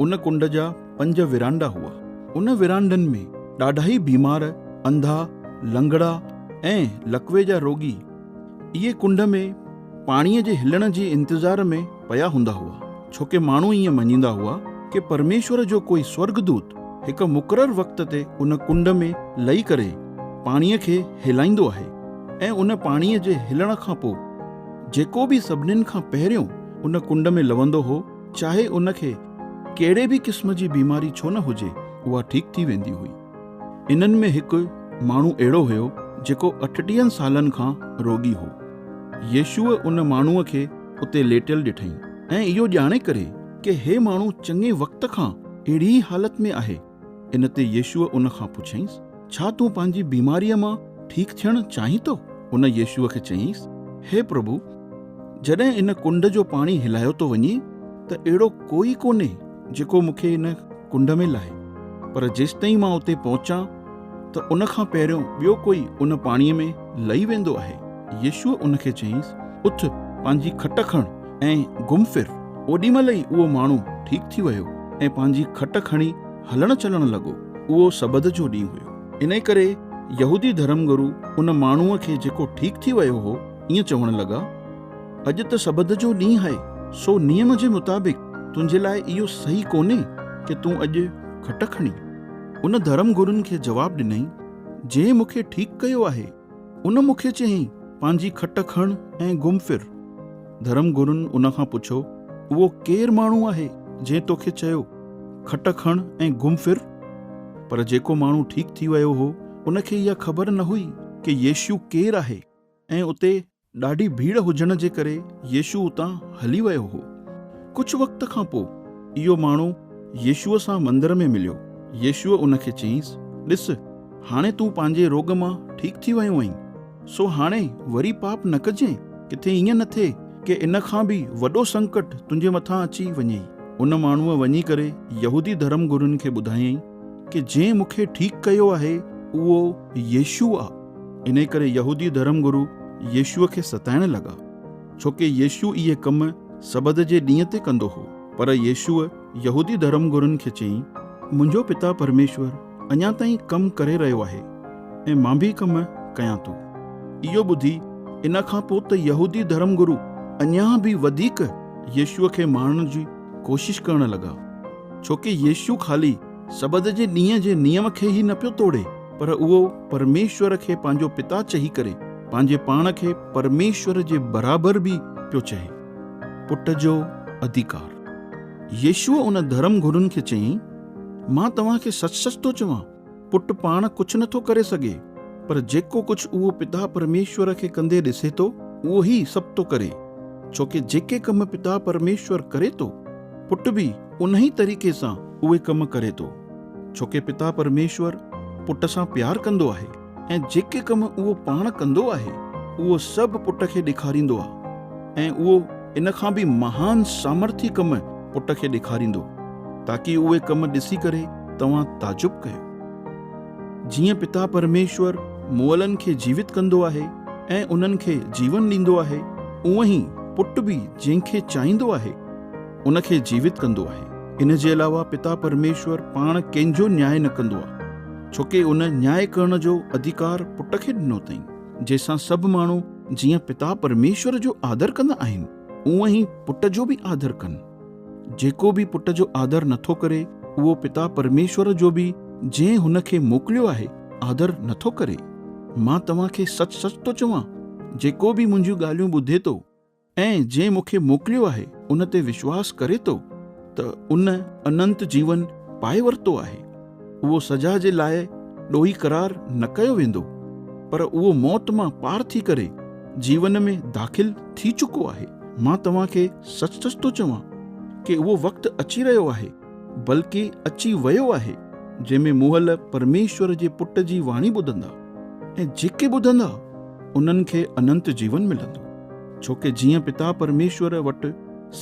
ان ڪنڊ جا پنج ورانڊا هئا. ان ورانڊن ۾ ڏاڍائي بيمار، انڌا، لنگڙا ۽ لقوي جا روڳي اهي ڪنڊ ۾ پاڻيء جي هلڻ جي انتظار ۾ پيا هوندا هئا، ڇو ڪي ماڻهو ائين مڃيندا هئا ڪي پرميشور جو ڪوئي سورڳدوت هڪ مقرر وقت تي ان ڪنڊ ۾ لهي ڪري پاڻيء کي هلائيندو آهي ۽ ان پاڻيء جي هلڻ کان پوء جيڪو به سڀنين کان پهريون ان ڪنڊ ۾ لهندو هو، چاهي ان کي ڪهڙي به قسم جي بيماري ڇو نه هجي اها ٺيڪ ٿي ويندي هئي. انهن ۾ هڪ ماڻهو اهڙو هيو جيڪو اٺٽيهن سالن کان روڳي هو. يسوع ان ماڻهوء کي اتي ليٽيل ڏٺئي ۽ اهو ڄاڻي ڪري ڪي هي ماڻهو چڱي وقت کان اهڙي ئي حالت ۾ آهي، ان تي يسوع ان کان پڇيائينس، ڇا تون پنهنجي بيماريء مان ٺيڪ ٿيڻ چاهين ٿو؟ ان يسوع کي چيائينس، هي پرڀو، جڏهن ان ڪنڊ جو پاڻي هلايو ٿو وڃي ته اهڙو ڪوئي ڪونهي جيڪو مون کي ان ڪنڊ ۾ لاهي، پر جيستائين مان اتي پهچان ته ان کان پهريون ٻيو ڪوئي ان پاڻيء ۾ لهي ويندو آهي. يسوع ان کي چيائينس، اٿ، پنهنجي کٽ کڻ ۽ گم ڦر، اوڏي مهل ئي اهو ماڻهو ٺيڪ ٿي ويو ۽ پنهنجي کٽ کڻي هلڻ چلڻ لڳو. اهو سبت جو ڏينهن هيو. انهيء ڪري يهودي ڌرم گرو ان ماڻهوء کي جيڪو ٺيڪ ٿي ويو هو، ائين چوڻ لڳا، اڄ ته سبت جو ڏينهن آهي، سو نيم جي مطابق تنهنجي لاء اهو صحيح ڪونهي ڪي تون اڄ کٽ کڻين. ان ڌرم گرون کي جواب ڏنائين، جنهن مون کي ٺيڪ ڪيو آهي، ان مون کي چيائين، پنهنجي کٽ کڻ ۽ گم ڦر. ڌرم گرن ان کان پڇيو، اهو ڪير ماڻهو آهي جنهن تو کي چيو، کٽ کڻ ۽ گم ڦر؟ پر جيڪو ماڻهو ٺيڪ ٿي ويو هو، ان کي اها خبر نه هئي ڪي يشوع ڪير آهي ۽ اتي ڏاڍي ڀيڙ هجڻ جي ڪري يسوع اتان هلي ويو هو. ڪجهه وقت کان پوء اهو ماڻهو يسوع سان مندر ۾ مليو. يسوع ان کي چيائينس، ڏس، هاڻي تون پنهنجي روڳ مان ٺيڪ ٿي ويو آهين، سو هاڻي وري پاپ نه ڪجانء، ڪٿي ائين نه ٿئي ڪي ان کان به وڏو سنڪٽ تنهنجي مٿان اچي وڃئي. ان ماڻهوء وڃي ڪري يهودي ڌرم گرون کي ٻڌايائين. ڪي جنهن مون کي ٺيڪ ڪيو آهي اهو يسوع آ. انهي ڪري يهودي ڌرم گرو يسوع کي ستائڻ لڳا ڇو ڪي يسوع اهي ڪم سبت جي ڏينهن تي ڪندو هو. پر يسوع يهودي ڌرم گرن کي چيائين، منهنجو پتا پرميشور اڃا تائين ڪم ڪري رهيو آهي ۽ مان به ڪم ڪيان ٿو. اهو ٻڌي ان کان پوء ته يهودي ڌرم گرو اڃا به وڌيڪ يسوع کي ماڻڻ جي ڪوشش ڪرڻ لڳا، ڇو ڪي يسوع خالي سبت جي ڏينهن جي نيم کي ئي نه پيو توڙي، پر اهو پرميشور کي پنهنجو پتا چهي ڪري پنهنجي پاڻ کي پرميشور جي برابر به پيو چهي. پٽ جو اڌيڪار. يسوع ان ڌرم گرون کي چيائين، مان توهان کي سچ سچ ٿو چوان، پٽ پاڻ ڪجهه نٿو ڪري سگهي، پر جيڪو ڪجهه اهو پتا پرميشور کي ڪندي ڏسي ٿو، اهو ئي سڀ ٿو ڪري، ڇو ڪي جيڪي ڪم پتا پرميشور ڪري ٿو، پٽ به انهي طريقي سان اهي ڪم ڪري ٿو، ڇو ڪي پتا پرميشور پٽ سان پيار ڪندو آهي، ۽ جيڪي ڪم اهو پاڻ ڪندو آهي، اهو سڀ پٽ کي ڏيکاريندو آهي، ۽ اهو ان کان به مهان سامرٿي ڪم پٽ کي ڏيکاريندو، تاڪي اهي ڪم ڏسي ڪري توهان تعجب ڪيو. جيئن پتا پرميشور مئلن کي جيوت ڪندو آهي ۽ انهن کي جيون ڏيندو آهي، اونئن ئي پٽ به جنهن کي چاهيندو آهي، ان کي جيوت ڪندو آهي. ان جي علاوه پتا پرميشور پاڻ ڪنهن جو نياء نه ڪندو آهي، ڇو ڪي ان نياء ڪرڻ جو اڌيڪار پٽ کي ڏنو اٿئين، جنهن سان سڀ ماڻهو جيئن پتا پرميشور جو آدر ڪندا آهن، اونئن ئي پٽ جو به آدر ڪن. جيڪو به پٽ جو آدر نٿو ڪري، اهو پتا پرميشور جو به جنهن هن کي موڪليو آهي، آدر نٿو ڪري. مان توهان کي سچ سچ ٿو چوان، جيڪو به منهنجيون ڳالهيون ٻڌي ٿو ۽ جنهن مون کي موڪليو آهي، ان تي وشواس ڪري ٿو ته ان اننت جيون پائي ورتو آهي. اهو سزا جي لاء ڏوهي قرار نه ڪيو ويندو، پر اهو موت مان پار ٿي ڪري جيون ۾ داخل ٿي چڪو آهي. مان توهان کي سچ سچ ٿو چوان ڪي اهو وقت اچي رهيو آهي، بلڪه اچي ويو آهي، جنهن ۾ موهل پرميشور جي پٽ جي واڻي ٻڌندا، ۽ جيڪي ٻڌندا، انهن کي اننت جيون ملندو. ڇوڪه جيئن پتا پرميشور وٽ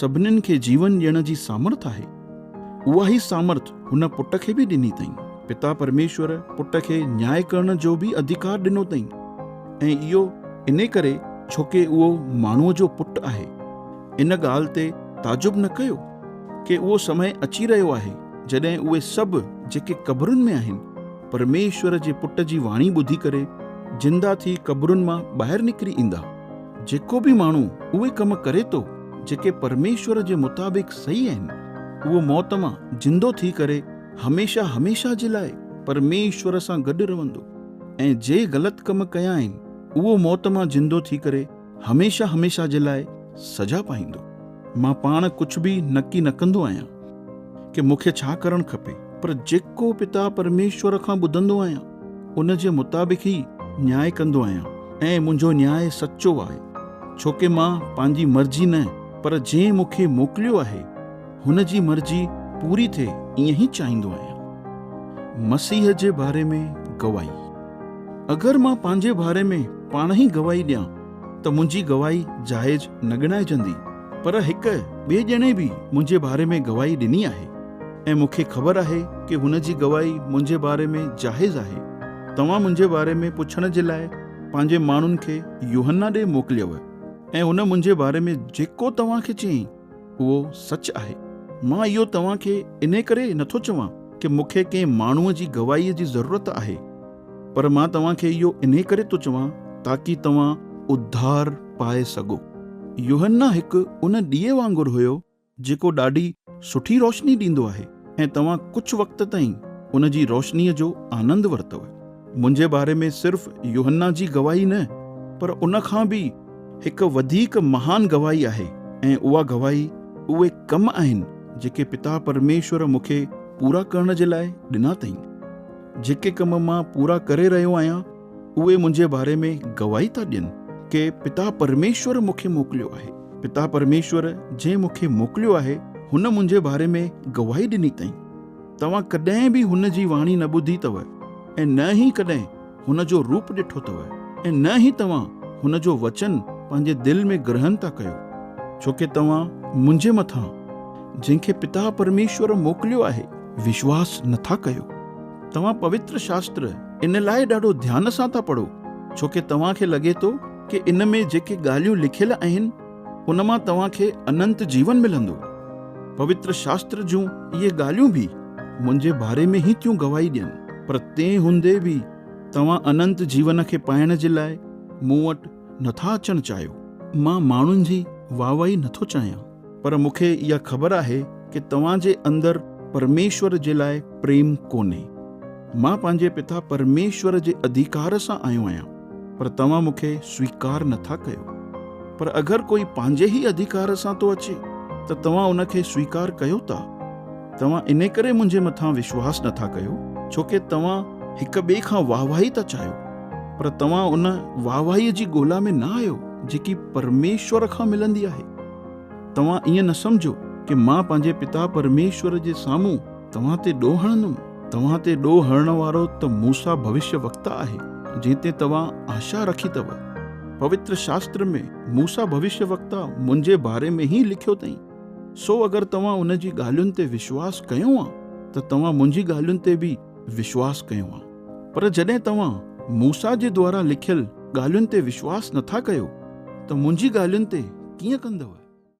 سڀنين کي جيون ڏيڻ جي سامرٿ آهي، اها ئي سامرٿ هن پٽ کي به ڏني اٿائين. پتا پرميشور پٽ کي نياء ڪرڻ جو به اڌيڪار ڏنو اٿائين ۽ اهو انهي ڪري ڇوڪه اهو ماڻهوء جو پٽ آهي. ان ڳالهه تي تعجب نه ڪيو ڪي اهو سمي اچي رهيو آهي جڏهن اهي سڀ جيڪي قبرن ۾ آهن پرميشور جي پٽ جي واڻي ٻڌي ڪري زنده ٿي قبرن مان ٻاهر نڪري ايندا. جيڪو به ماڻهو اهي ڪم ڪري ٿو، جيڪي پرميشور جي مطابق صحيح آهن، اهو موت مان زندو ٿي ڪري هميشه هميشه جي لاء پرميشور سان گڏ رهندو ۽ جي غلط ڪم ڪيا آهن، اهو موت مان زندو ٿي ڪري هميشه هميشه جي لاء سزا پائيندو. مان پاڻ ڪجهه به نڪي نه ڪندو آهيان ڪي مون کي ڇا ڪرڻ کپي، پر جيڪو پتا پرميشور کان ٻڌندو آهيان، ان جي مطابق ئي نياء ڪندو آهيان ۽ منهنجو نياء سچو آهي، ڇو ڪي مان پنهنجي مرضي نه پر جنهن مون کي موڪليو آهي، هن جي مرضي پوري ٿئي ائين ئي چاهيندو آهيان. مسيح جي باري ۾ گواهي. اگر مان پنهنجي باري ۾ پاڻ ئي گواهي ڏيان ته منهنجي گواهي جائز نه ڳڻائجندي. پر هڪ ٻئي ڄڻي به منهنجي باري ۾ گواهي ڏني آهي ۽ مون کي خبر آهي ڪي هن جي گواهي منهنجي باري ۾ جائز آهي. توهان منهنجي باري ۾ پڇڻ جي لاء پنهنجي ماڻهن کي يوحنا ڏي موڪليو ۽ هن منهنجي باري ۾ جيڪو توهان کي چيائين اهو سچ آهي. مان اهو توهان کي انهي ڪري نٿو چوان ڪي مون کي ڪنهن ماڻهوء جي گواهيء جي ضرورت آهي. پر مان توهان کي اهو انهي ڪري ٿو چوان تاڪي توهان اڌار پائي سگهو. يوحنا هڪ ان ڏيئي وانگر هيو جيڪو ڏاڍي سٺي روشني ڏيندو آهي ۽ توهان ڪجهه وقت تائين ان جي روشنيء جو آنند ورتو. منهنجي باري ۾ صرف يوحنا جي گواهي نه پر ان کان به هڪ وڌيڪ مهان گواهي آهي ۽ اها گواهي اهي ڪم آهن جيڪي پتا پرميشور مون کي پورا ڪرڻ جي لاء ڏنا اٿائين. جيڪي ڪم مان پورا ڪري رهيو آهيان اهي منهنجي باري ۾ گواهي ٿا ڏين ڪي پتا پرميشور مون کي موڪليو آهي پتا پرميشور جنهن مون کي موڪليو آهي هن منهنجي باري ۾ گواهي ڏني تئين توهان ڪڏهن به هن جي واڻي نه ٻڌي اٿو ۽ نه ئي ڪڏهن هن جو روپ ڏٺو اٿو ۽ نه ئي توهان هن جو وچن پنهنجي دل ۾ گرهن ٿا ڪيو ڇوڪي توهان منهنجي مٿان جنهن کي پتا پرميشور موڪليو آهي وشواس نه ٿا ڪيو. توهان پوتر شاستر ان لاء ڏاڍو ڌيان سان ٿا پڙهو ڇو ڪي توهان کي لڳي ٿو ڪي ان ۾ جيڪي ڳالهيون لکيل آهن ان مان توهان کي اننت جيون ملندو. پوتر شاستر جون اهي ڳالهيون به منهنجي باري ۾ ئي ٿيون گواهي ڏين. پر تنهن هوندي به توهان اننت جيون کي پائڻ جي لاء مون وٽ نه ٿا اچڻ چاهيو. مان ماڻهن جي واهوائي نه ٿو چاهيان. پر مون کي اها خبر آهي ڪي توهان جي اندر پرميشور جي لاء پريم ڪونهي. مان پنهنجي پتا پرميشور جي اڌيڪار سان آيو آهيان پر توهان مون کي سويڪار نه ٿا ڪيو. پر اگر ڪوئي پنهنجي ئي اڌيڪار سان ٿو اچي ته توهان ان کي سويڪار ڪيو ٿا. توهان انهي ڪري منهنجي مٿان وشواس نه ٿا ڪيو ڇو ڪي توهان هڪ ٻئي کان واهواهي ٿا چاهيو. پر توهان ان واهواهيء جي ڳولا ۾ نه آهيو جيڪي پرميشور کان ملندي آهي. توهان ائين نه سمجهو ڪي مان پنهنجي پتا پرميشور جي سامهون توهان تي ڏوهه هڻندم. توهان تي ڏوهه هڻڻ وارو ته موسيٰ ڀوشيه وڪتا آهي جنهن تي توهان آشا رکي اٿو. پوتر شاستر ۾ موسيٰ ڀوشيه وڪتا منهنجي باري ۾ ئي لکيو اٿئين. سو اگر توهان ان جي ڳالهين تي وشواس ڪيو ها ته توهان منهنجي ڳالهين تي به وشواس ڪيو ها. پر جڏهن توهان موسيٰ جي دوارا لکيل ڳالهين تي وشواس نٿا ڪيو ته منهنجي ڳالهين تي ڪيئن ڪندؤ؟